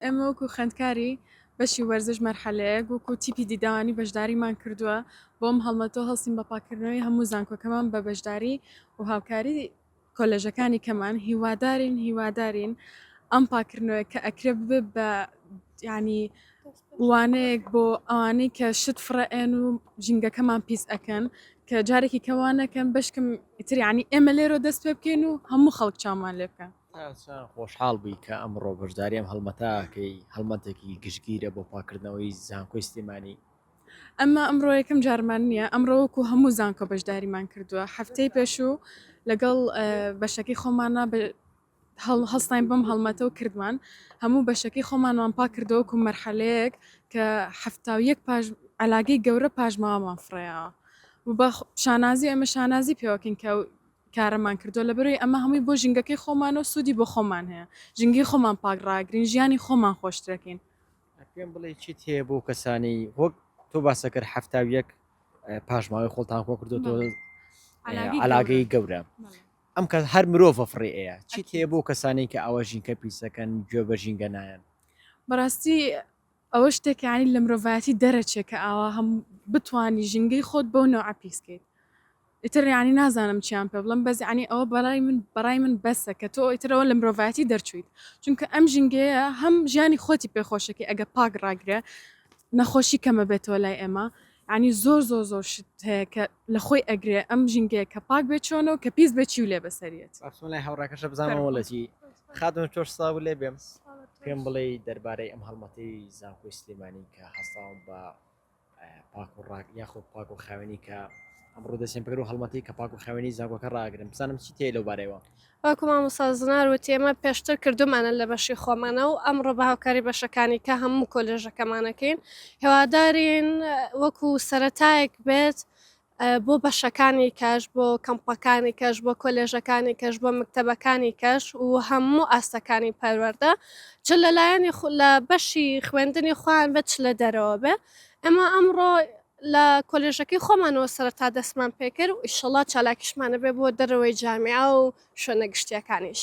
ئێمە وەکو خوێندکاری بەشی وەرزش مەرحەلەیەک وەکو تیپی دیدەوانی بەشداریمان کردووە، بەم هەڵمەتەوە هەڵسین بە پاککردنەوەی هەموو زانکۆکەمان بە بەشداری و هاوکاری کۆلێژەکانی کەمان، هیوادارین هیوادارین ئەم پاککردنەوەیە کە ئەکرێ ببێ بە یانی وانەیەک بۆ ئەوانەی کە شت فڕئێن و ژینگەکەمان پیس ئەکەن کە جارێکی کەوانەکەن بەشکم ئیتر یانی ئێمە لێرە دەست پێ بکەین و هەموو خەڵک چامان لێ بکەن. چەند خۆشحاڵ بووی کە ئەمڕۆ بەشداری ئەم هەڵمەتە ئەکەی، هەڵمەتێکی گشتگیرە بۆ پاککردنەوەی زانکۆی سلێمانی. ئەمە ئەمڕۆ یەکەم جارمان نییە، ئەمڕۆ وەکو هەموو زانکۆ بەشداریمان کردووە، هەفتەی پێشوو لەگەڵ بەشەکەی خۆمانا هەڵستاین بەم هەڵمەتە و کردمان، هەموو بەشەکەی خۆمانمان پاککردەوە وەکو مەرحەلەیەک کە حەفتا و یەک ئەلاگەی گەورە پاشماوەمان فڕێیاوە و بە شانازی ئێمە شانازی پێوەکەین کە کارەمان کردوە لەبەرئەوەی ئەمە هەمووی بۆ ژینگەکەی خۆمانە و سودی بۆ خۆمان هەیە ژینگەی خۆمان پاک ڕاگرین ژیانی خۆمان خۆشترەکەین. پێم بڵێ چیت هەیە بۆ کەسانی وەک تۆ باسەکەر حەفتا و یەک پاشماوەی خۆڵتان خۆ کردوەوە علاگەی گەورە ئەم کە هەر مرۆڤە فڕێ ئەیە چیت هەیە بۆ کەسانی کە ئاوە ژینکە پیسەکەن گوێ بە ژینگە نایەن بەڕاستی ئەوە شتێکە یانی لە مرۆڤایەتی دەرەچێ کە ئاوا هەم بتوانی ژینگەی خۆت بەو نەوعە پیس کەیت ئیتر یانی نازانم چیان پێ بڵێم بەس یانی ئەوە بەڕای من بەڕای من بەسە کە تۆ ئیتر ئەوە لە مرۆڤایەتی دەرچوویت چونکە ئەم ژینگەیە هەم ژیانی خۆتی پێ خۆشەکەی ئەگە پاک ڕاگرە نەخۆشی کەمە بێتەوە لای ئێمە یانی زۆر زۆر زۆر شت هەیە کە لە خۆی ئەگرێ ئەم ژینگەیە کە پاک بێ چۆنە و کە پیس بێ چی و لێ بەسەریەت بەخشم لای هاوڕاکەشە بزانم وڵەتی خاتون چۆش ساو لێ بێم پێم بڵێ دەربارەی ئەم هەڵمەتی زانکۆی سلێمانی کە هەستاوم بە پاک و ڕاک یاخۆ پاک و خاوێنی کە ئەمڕۆ دەچێن بگەر و هەڵمەتی کە پاک و خاوێنی زانکۆکە ڕاگرن بزانم چی تێ لەو بارەوە وەکو مامۆستا زنار وتی ئێمە پێشتر کردومانە لە بەشی خۆمانە و ئەمڕۆ بە هاوکاری بەشەکانی کە هەموو کۆلێژەکەمانەکەین هێوادارین وەکو سەرەتایەک بێت بۆ بەشەکانی کەش بۆ کەمپەکانی کەش بۆ کۆلێژەکانی کەش بۆ مکتتەبەکانی کەش و هەموو ئاستەکانی پەروەەردە چ لەلایەنی لە بەشی خوێندنی خوان بە چ لە دەرەوە بێ ئەمە ئەمڕۆ لە کۆلێژەکەی خۆمانەوە سەرەتا دەستمان پێکرد و ئیشەڵا چالاکیشمان ئەبێ بۆ دەرەوەی جامیعە و شوێنە گشتییەکانیش.